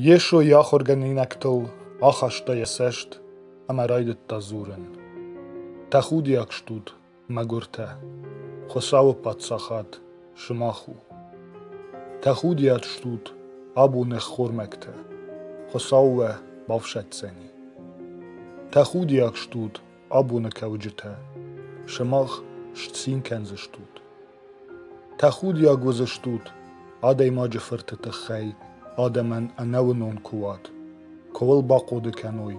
Йесо йӕ ахуыргӕнинӕгтыл ахаста йӕ цӕст ӕмӕ райдыдта дзурын. Тӕхудиаг стут, мӕгуыртӕ! Хуыцауы Паддзахад сымах у. Тӕхудиаг стут, абон ӕххормӕгтӕ! Хуыцау уӕ бафсӕддзӕни. Тӕхудиаг стут, Абоны кӕуджытӕ, сымах сцин кӕндзыстут. Тӕхудиаг уыдзыстут адӕймаджы фырты тыххӕй адӕмӕн ӕнӕуынон куы уат, куы уыл бахъуыды кӕной,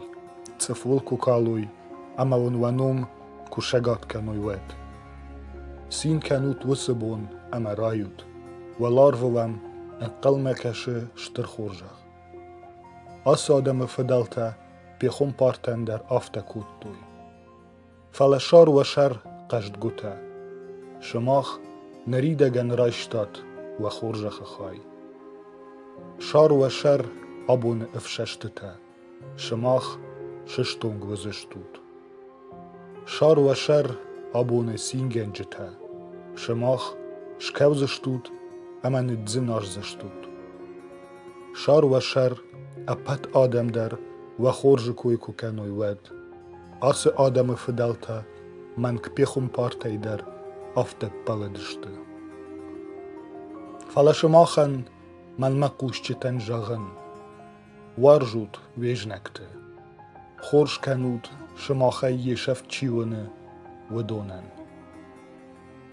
цъыфыл куы калой ӕмӕ уын уӕ ном куы сӕгат кӕной, уӕд. Цин кӕнут уыцы бон ӕмӕ райут. Уӕларвы уӕм ӕнхъӕлмӕ кӕсы стыр хорзӕх. Ацы адӕмы фыдӕлтӕ пехуымпартӕн дӕр афтӕ кодтой. Фӕлӕ сӕр уӕ сӕр, хъӕздгуытӕ, сымах ныридӕгӕн райстат уӕ хорзӕхы хай. Сӕр уӕ сӕр абоны ӕфсӕстытӕ, сымах сыстонг уыдзыстут. Сар уӕ сӕр, абоны цингӕнджытӕ, сымах скӕудзыстут ӕмӕ ныдздзынӕздзыстут. Сар уӕ сӕр, ӕппӕт адӕм дӕр уӕ хорзы кой куы кӕной, уӕд. Ацы адӕмы фыдӕлтӕ мӕнг пехуымпартӕй дӕр афтӕ ппӕлыдысты. Фӕлӕ сымахӕн мӕнмӕ хъусджытӕн зӕгъын. Уарзут уе знӕгты, хорз кӕнут, сымахӕй йе сӕфт чи уыны, уыдонӕн.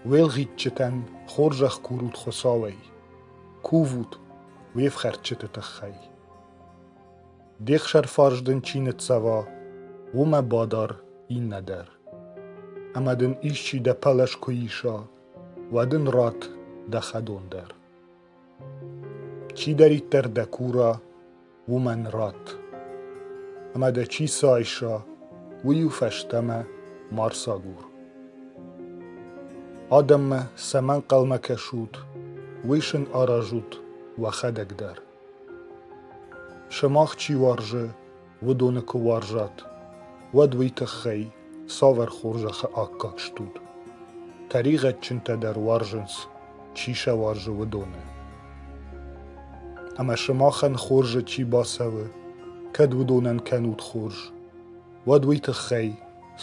Уӕлгъитджытӕн хорзӕх курут Хуыцауӕй, кувут уе фхӕрдджыты тыххӕй. Де хсӕрфарс дын чи ныццӕва, уымӕ бадар иннӕ дӕр. Ӕмӕ дын исчи дӕ пӕлӕз куы иса, уӕд ын ратт дӕ хӕдон дӕр. Чидӕриддӕр дӕ кура, уымӕн ратт, ӕмӕ дӕ чи сайса, уый-иу фӕстӕмӕ ма рсагур. Адӕммӕ цӕмӕ ӕнхъӕлмӕ кӕсут, уый сын аразут уӕхӕдӕг дӕр. Сымах чи уарзы, уыдоны куы уарзат, уӕд уый тыххӕй цавӕр хорзӕхы аккаг стут? Тӕригъӕдджынтӕ дӕр уарзынц, чи сӕ уарзы, уыдоны. Ӕмӕ сымахӕн хорзы чи бацӕуы, кӕд уыдонӕн кӕнут хорз, уӕд уый тыххӕй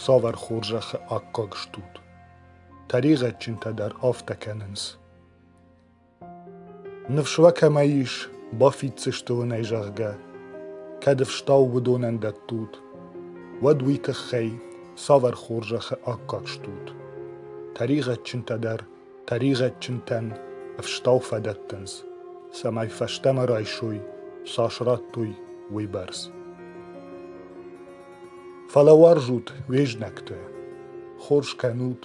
цавӕр хорзӕхы аккаг стут? Тӕригъӕдджынтӕ дӕр афтӕ кӕнынц. Ныфс уӕ кӕмӕ ис, бафиддзысты уын ӕй, зӕгъгӕ, кӕд ӕфстау уыдонӕн дӕттут, уӕд уый тыххӕй цавӕр хорзӕхы аккаг стут? Тӕригъӕдджынтӕ дӕр тӕригъӕдджынтӕн ӕфстау фӕдӕттынц, цӕмӕй фӕстӕмӕ райсой, цас радтой, уыйбӕрц. Фӕлӕ уарзут уе знӕгты, хорз кӕнут,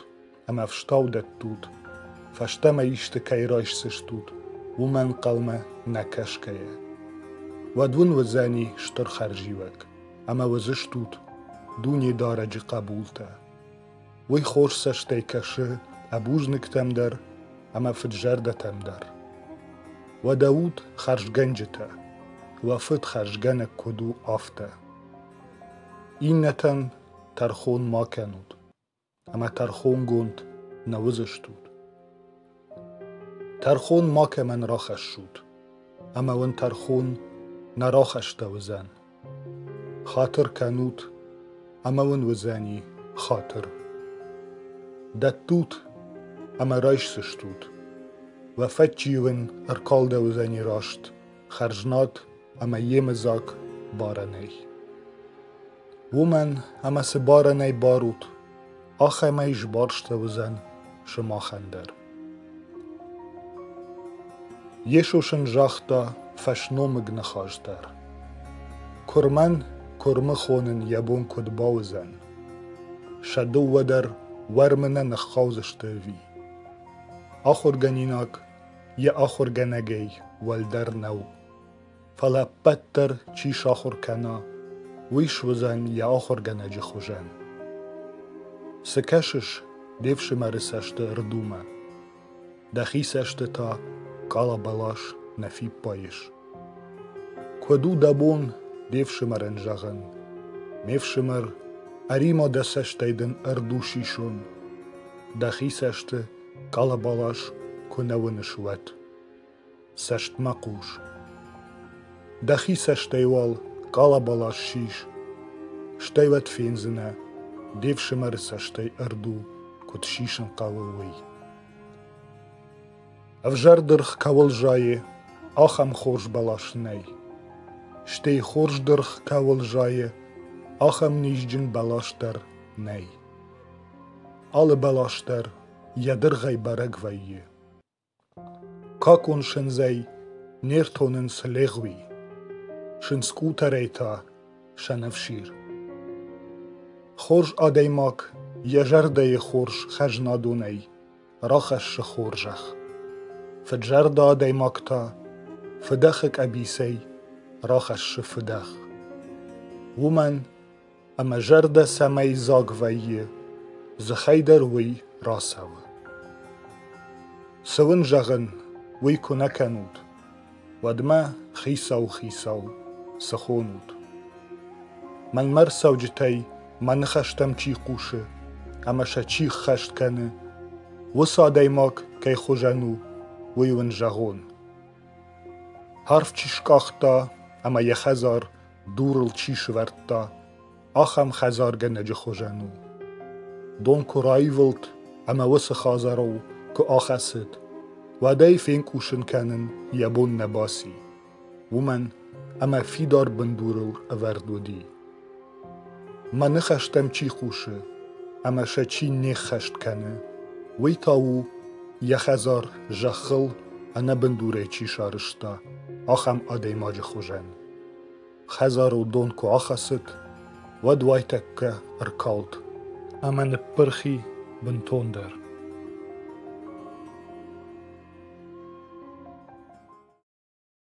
ӕмӕ ӕфстау дӕттут, фӕстӕмӕ исты кӕй райсдзыстут, уымӕ ӕнхъӕлмӕ нӕ кӕсгӕйӕ, уӕд уын уыдзӕни стыр хӕрзиуӕг ӕмӕ уыдзыстут Дунедарӕджы хъӕбултӕ. Уый хорз цӕстӕй кӕсы ӕбузныгтӕм дӕр ӕмӕ фыдзӕрдӕтӕм дӕр. Уӕдӕ ут хӕрзгӕнджытӕ, уӕ фыд хӕрзгӕнӕг куыд у, афтӕ. Иннӕтӕн тӕрхон ма кӕнут, ӕмӕ тӕрхонгонд нӕ уыдзыстут. Тӕрхон макӕмӕн рахӕссут, ӕмӕ уын тӕрхон нӕ рахӕстӕуыдзӕн. Хатыр кӕнут, ӕмӕ уын уыдзӕни хатыр. Дӕттут, ӕмӕ райсдзыстут. Уӕ фӕдджи уын ӕркалдӕуыдзӕни раст хӕрзнад ӕмӕ йемыдзаг барӕнӕй. Уымӕн, ӕмӕ цы барӕнӕй барут, ахӕмӕй сбарсты уыдзӕн сымахӕн дӕр. Йесо сын загъта фӕсномыг ныхас дӕр. Куырмӕн куырмы хонын йӕ бон куыд бауыдзӕн? Сӕ дыууӕ дӕр уӕрмы нӕ ныххаудзысты ӕви? Ахуыргӕнинаг йӕ ахуыргӕнӕгӕй уӕлдӕр нӕу. фӕлӕ ӕппӕт дӕр чи сахуыр кӕна, уый суыдзӕн йӕ ахуыргӕнӕджы хуызӕн. Цы кӕсыс де фсымӕры цӕсты рдумӕ? Дӕхи цӕсты та къалабалас нӕ фиппайыс. Куыд у дӕ бон де фсымӕрӕн зӕгъын? Ме фсымӕр, ӕрима дӕ цӕстӕй дын ӕрдус исон, дӕхи цӕсты къалабалас куы нӕ уыныс, уӕд. Цӕстмӕ хъус. Дӕхи цӕстӕй уал къалабала ссис, стӕй уӕд фендзынӕ, де фсымӕры цӕстӕй ӕрду куыд сисын хъӕуы, уый. Ӕвзӕр дыргъ кӕуыл зайы, ахӕм хорз бӕлас нӕй. Стӕй хорз дыргъ кӕуыл зайы, ахӕм низджын бӕлас дӕр нӕй. Алы бӕлас дӕр йӕ дыргъӕй бӕрӕг вӕййы. Какун синдзӕй не ртонынц легъуи, синдз къутӕрӕй та сӕнӕфсир. Хорз адӕймаг йӕ зӕрдӕйы хорз хӕзнадонӕй рахӕссы хорзӕх. Фыдзӕрдӕ адӕймаг та фыдӕхы къӕбицӕй рахӕссы фыдӕх. Уымӕн ӕмӕ зӕрдӕ цӕмӕй дзаг вӕййы, дзыхӕй дӕр уый рацӕуы. Цы уын зӕгъын, уый куы нӕ кӕнут, уӕдмӕ хицау-хицау цы хонут. Мӕнмӕ рцӕуджытӕй мӕ ныхӕстӕм чи хъусы ӕмӕ сӕ чи ххӕст кӕны, уыцы адӕймаг кӕй хуызӕн у, уый уын зӕгъон. Арв чи скъахта ӕмӕ йӕ хӕдзар дурыл чи сывӕрдта, ахӕм хӕдзаргӕнӕджы хуызӕн у. Дон куы раивылд ӕмӕ уыцы хӕдзарыл куы ахӕцыд, уӕдӕй фенкъусын кӕнын йӕ бон нӕ баци, уымӕн ӕмӕ фидар бындурыл ӕвӕрд уыди. Мӕ ныхӕстӕм чи хъусы ӕмӕ сӕ чи не ххӕст кӕны, уый та у, йӕ хӕдзар зӕххыл ӕнӕбындурӕй чи сарызта, ахӕм адӕймаджы хуызӕн. Хӕдзарыл дон куы ахӕцыд, уӕд уайтӕккӕ ӕркалд ӕмӕ ныппырхи бынтондӕр.